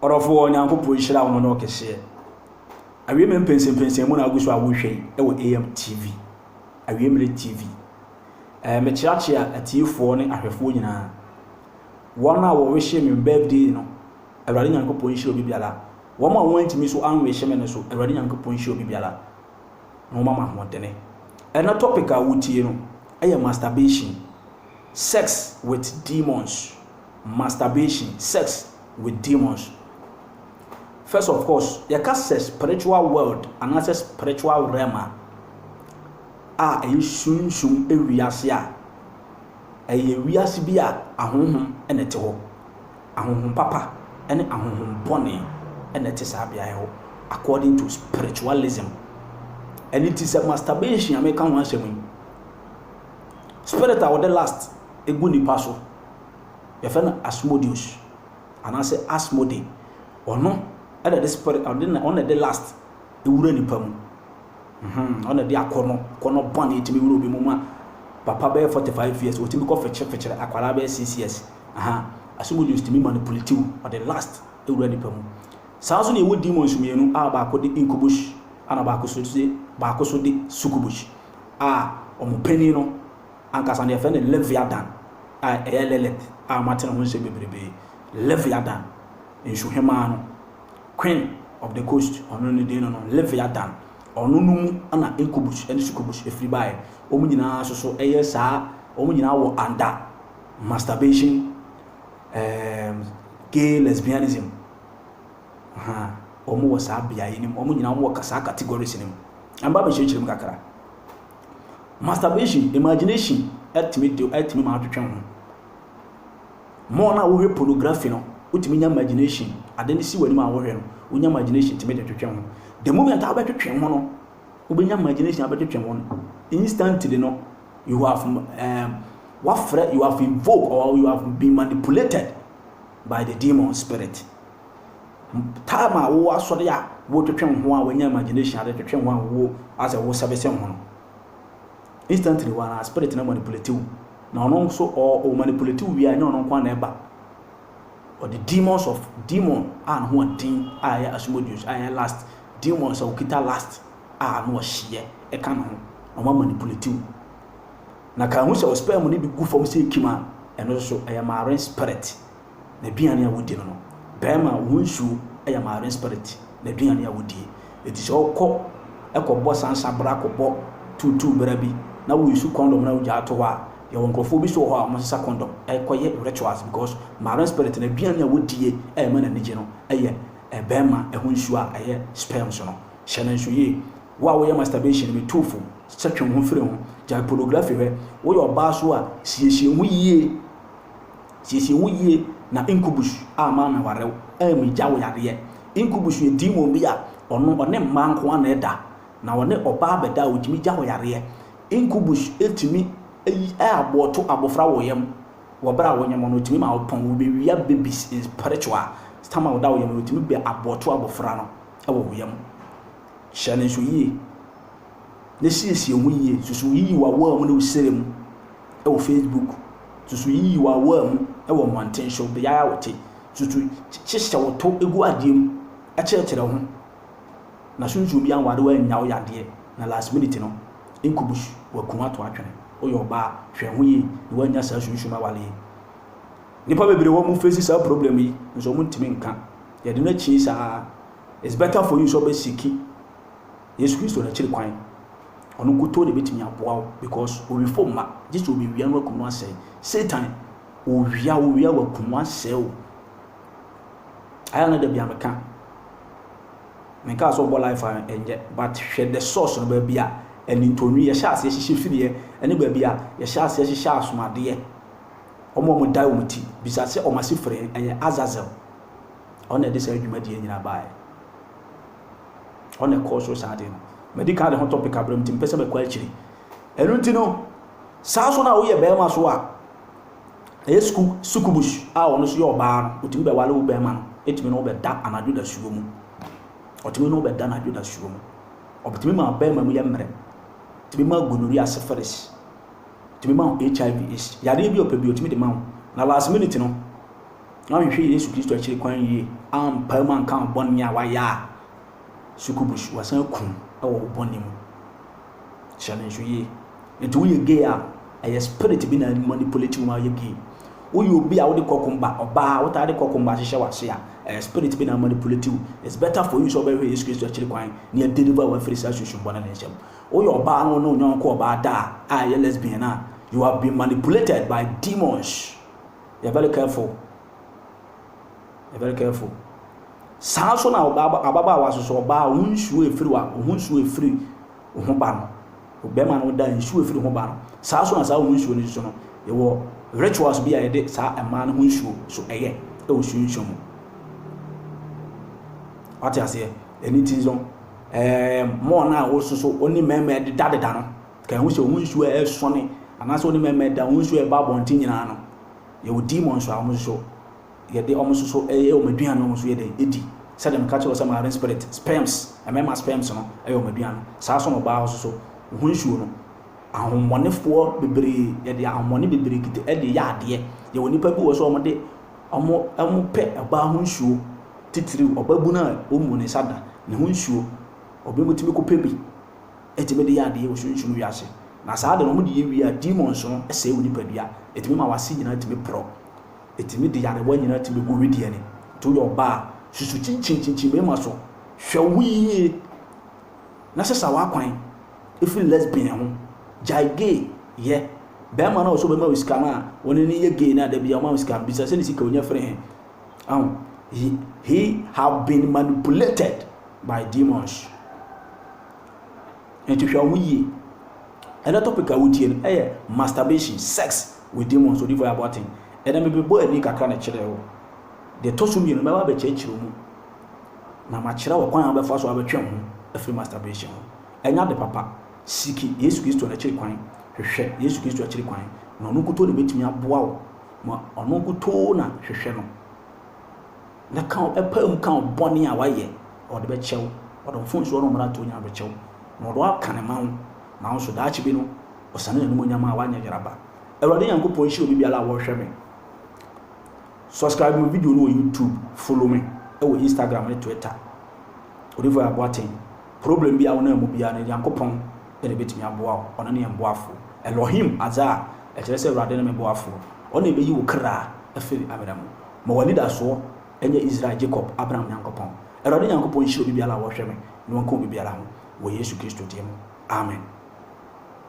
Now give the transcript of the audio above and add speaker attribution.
Speaker 1: Ɔdɔfoɔ, Nyankopɔn nhyira wo no kɛseɛ. Awiei mmerɛ mpɛnsɛmpɛnsɛn mu na wogu so a wohwɛ yi wɔ AM TV, Awiei mmerɛ TV. Ɛɛ, mekyeakyea atiefoɔ ne ahwɛfoɔ nyinaa. Wɔn a wɔwehye me birthday no, Awurade Nyankopɔn nhyira obi biara. Wɔn a wɔantumi nso anwehye me no nso, Awurade Nyankopɔn nhyira obi biara na wɔma mo ahoɔdene. Ɛnɛ topic a wotie no yɛ masturbation, sex with demons. masturbation, sex with demons. First of course, yɛka sɛ spiritual world anaasɛ spiritual realm a, a ɛyɛ sunsum wiase a, ɛyɛ wiase bi a ahonhom na ɛte hɔ. Ahonhom papa ne ahonhom bɔne na ɛte saa beaeɛ hɔ according to spiritualism. Ɛno nti sɛ masturbation a meka ho asɛm yi, spirit a wɔde lust gu nipa so Yɛfrɛ no Asmodeus anaasɛ Asmodee. Ɔno na ɛde spirit, ɔde na ɔno na ɛde lust wura nipa mu. Mhm, ɔno na ɛde akɔnɔ, kɔnɔ bɔne tumi wura obi mu ma papa bɛyɛ 45 years, ɔtumi kɔ fekyere fekyere akwadaa bɛyɛ 6 years. Aha, Asmodeus tumi manipulate wo, ɔde lust wura nipa mu. Saa nso na yɛwɔ demons mmienu a baako de incubus ɛna baako so de baako so de succubus a wɔn panin no Ankasa no, yɛfrɛ no Leviathan, a ɛyɛ Lilith a moate ne ho nsɛm bebrebe. Leviathan, nsuhemmaa no, Queen of the Coast, ɔno ne din no no, Leviathan. Ɔno no mu na Incubus ne Succubus firi baeɛ. Wɔn nyinaa nso so yɛ saa, wɔn nyinaa wɔ under masturbation, um, gay lesbianism. Aha, wɔn wɔ saa beaeɛ no mu. Wɔn nyinaa wɔn wɔ saa categories no mu. Ɛmma bɛkyerɛkyerɛ mu kakra. Masturbation, imagination tumi de tumi ma wotwetwe wo ho. More no a wohwɛ pornography no, wotumi nya imagination. Ade no si w'anim a wohwɛ no, wonya imagination tumi de twetwe wo ho. The moment a wobɛtwetwe wo ho no, wobɛnya imagination abɛtwetwe wo ho no, instantly no, you have um, wafrɛ, you have invoked or you have been manipulated by the demon spirit. Time a wowɔ asɔre a wo twetwe wo ho a wanya imagination ade twetwe wo ho a wo asɛ wo service ho no instantly wa na spirit no manipulate wo na ɔno nso or o manipulate wo wie a ɛnyɛ ɔno nko a na ɛba ɔde demons of demon a ne ho ɔden a ɛyɛ asomodius a ɛyɛ last demons a okita last a na ɔhyeɛ ɛka ne ho na ɔma manipulate wo na ka ho sɛ ɔspɛɛ mu ne de gu fam sɛ ekim a ɛno nso ɛyɛ marine spirit n'aduane a wodi no no, barima a ɔho nsuo yɛ marine spirit n'aduane a wodie. Enti sɛ wokɔ kɔbɔ sansa bra, kɔbɔ tuutuu bra bi na wo use condom na wogyaa to hɔ a, yɛwɔ nkorɔfoɔ bi nso wɔ hɔ a wɔsesa condom kɔyɛ rituals because marine spirit n'aduane a wodie a ɛma n'ani gye no yɛ barima ho nsuo a ɛyɛ sperms no. Hyɛ no nso yie. Wo a woyɛ masturbation, metu wo fo sɛ twe wo ho firi ho, gyae pornography hwɛ. Woyɛ ɔbaa nso a, siesie wo ho yie. Siesie wo yie na incubus a ma me ware wo ɛɛ me gya wo yareɛ. Incubus yɛ demon bi a ɔno ɔne mmaa nko ara na ɛda na ɔne ɔbaa bɛda a ɔtumi gya wo yareɛ. Incubus tumi yi ɛɛboɔ to abɔfra wɔ yam wɔ berɛ a wo nyem no ɔtumi ma wo pɔn, wo bɛ wia babies in spiritual stam a ɔda wo yam no ɔtumi bɛ aboɔ to abɔfra no wɔ wo yam. Hyɛ no nso yie. na siesie ho yie. Susu yiyi w'awaa mu ne wo srɛ mu wɔ Facebook. Susu yiyi w'awaa mu wɔ mmɔnten so, beaeɛ a wote. Susu hyehyɛ wo to gu adeɛ mu kyerɛkyerɛ ho. Na susu obi anware wo annya wo yadeɛ na last minute no nkubus waku wo ato atwene. Woyɛ ɔbaa, hwɛ ho yie na woannya saa sunsum aware yi. Nnipa bebree wɔ hɔ a wɔfeesi saa problem yi nso wɔntumi nka. Yɛde no akyi saa. It's better for you sɛ wobɛsiki. Yesu Kristo na akyiri kwan ɔno nkutoo na ebetumi aboa wo because owifo mma gye sɛ obewia no akum no asɛe. Satan owia owia wakum wo asɛe wo. Ayɛ a na da bi a meka menkaa sɛ ɔbɔ life a ɛnyɛ but hwɛ the source no baabi a anintɔnwi yɛhyɛ aseɛ hyehyɛ firiɛ ɛne baabi a yɛhyɛ aseɛ hyehyɛ asomadeɛ ɔmo ɔmo dae ɔmo ti bisa sɛ ɔmo ase frɛ ɛyɛ Azazel ɔno na ɛde saa adwumadie nyinaa baeɛ. Hɔ na ɛkɔɔ so saa adeɛ no. Madi kan ne ho tɔ peka berɛ mu nti mempɛ sɛ mɛkɔ akyiri. Ɛno nti no, saa nso na woyɛ barima so a, ɛyɛ sukuu sukubusu a ɔno nso yɛ ɔbaa no, ɔtumi bɛwale wo barima no, ɛtumi ne wo bɛda anadwo dasuo mu. Ɔtumi ne wo bɛda anadwo dasuo mu. Ɔtumi ma barima mu yɛ mmerɛ. Ɔtumi ma gonorrhea, syphilis. Ɔtumi ma HIV, AIDS. Yadeɛ bi a ɔpɛ bi ɔtumi de ma wo. Na last minute no, na wanhwehwɛ Yesu Kristo akyiri kwan yie, ampae mu anka wo bɔne a wayɛ a, sukubusu, wasan aku no wɔ wo bɔne mu. Hyɛ no nso yie. Nti woyɛ gay a, ɛyɛ spirit bi na manipulate wo ma woyɛ gay. Woyɛ obi a wode kɔkomba, ɔbaa a wotaa de kɔkomba ahyehyɛ w'ase a, ɛyɛ spirit bi na manipulate wo. It's better for you sɛ wobɛhwɛ Yesu Kristo akyiri kwan na yɛadeliver wo afiri saa sunsum bɔne no nsam. Woyɛ ɔbaa na wo ne wo yɔnko ɔbaa da a, a ɛyɛ lesbian a, you have been manipulated by demons. Be very careful. Be very careful. Saa nso na ababaawa nso so ɔbaa ɔho nsuo efiri wa ɔho nsuo efiri ɔho ba no ɔbɛrima no da nsuo efiri ɔho ba no saa nso na saa ɔho nsuo no nso no yɛwɔ rituals bi a yɛde saa mmaa no ho nsuo so ɛyɛ ɛwɔ suo nsuo mu wate aseɛ ɛni ti nso ɛɛ mɔɔ no a wɔsoso ɔne mmarima ɛdedadeda no. Ka ehu sɛ wɔn nsu a ɛsõ ne anaasɛ wɔde mɛmɛ da wɔn nsu a ɛba abɔnten nyinaa no. Yɛwɔ demons a wɔn nso yɛde wɔn nso so yɛ wɔn aduan na wɔn nso yɛ dɛn di. Sɛdeɛ meka kyerɛɛ wo sɛ marine spirit, sperms, mmarima sperms no yɛ wɔn aduan no, saa nso na ɔbaa nso so ho nsuo no, ahohommɔnefoɔ bebree, yɛde ahohommɔne bebree kita de yɛ adeɛ. Yɛwɔ nnipa bi wɔ hɔ sɛ wɔde, wɔn, wɔpɛ ɔbaa ho nsuo, titiriw ɔbabunu a wɔmmu ne nsa da, ne ho nsuo. Obi tumi kɔpɛ bi. tumi de yɛ adeɛ wɔ sunsum wiase. Na saa ade no, wɔde yɛ wie a, demons no sɛe wo nipadua. Ɛtumi ma w'ase nyinaa tumi porɔ. Ɛtumi de nyarewa nyinaa tumi gu wedeɛ ani. Nti woyɛ ɔbaa a, susu kyinkyin kyinkyin mmarima so. Hwɛ wo ho yie na sesa w'akwan firi lesbian ho. Gyae gay yɛ. Barima no a ɔsɛ ɔbɛma wo sika no a, wo ne no yɛ gay no a, da biara ɔma wo sika no, bisa sɛ ne sika a ɔnya firi he? Ahu? He, he have been manipulated by demons. Nti hwɛ ho yie. Ɛnɛ topic a wotie no ɛyɛ masturbation, sex with demons, odifo yɛ abɔten. Ɛnɛ mebɛbɔ ani kakra na kyerɛ wo. Deɛ ɛtɔ so mmienu mɛba abɛkyerɛkyerɛ mu na makyerɛ wo kwan a wobɛfa so abɛtwe wo ho afiri masturbation ho. Ɛnyɛ ade papa. Siki Yesu Kristo n'akyiri kwan. Hwehwɛ Yesu Kristo akyiri kwan. Na ɔno nkutoo na ɛbɛtumi aboa wo Ma ɔno nkutoo na hwehwɛ no, na ka wo, pae mu ka wo bɔne a woayɛ, na ɔde bɛkyɛ wo. Ɔde wo mfomsoɔ ne wo mmarato nyinaa bɛkyɛ wo, na ɔde wo aka ne man. Nanso daakye bi no, ɔsane n'animuonyam a wanyɛ yere aba. Awurade Nyankopɔn nhyira obibiara a ɔrehwɛ me. Subscribe me video no wɔ YouTube, follow me wɔ Instagram ne Twitter. Odifoɔ Yah Boateng, problem biara a wonam mu biara no, Nyankopɔn na ebetumi aboa wo. Ɔno ne yɛn boafo. Elohim adze a ɛkyerɛ sɛ Awurade ne me boafo. Ɔno na ebeyi wo kra afi amena mu. Ma w'anidasoɔ nyɛ Israel, Jacob, Abraham Nyankopɔn. Awurade Nyankopɔn nhyira obi biara a ɔhwɛ me, na ɔnka obi biara ho, wɔ Yesu Kristo din mu, amen.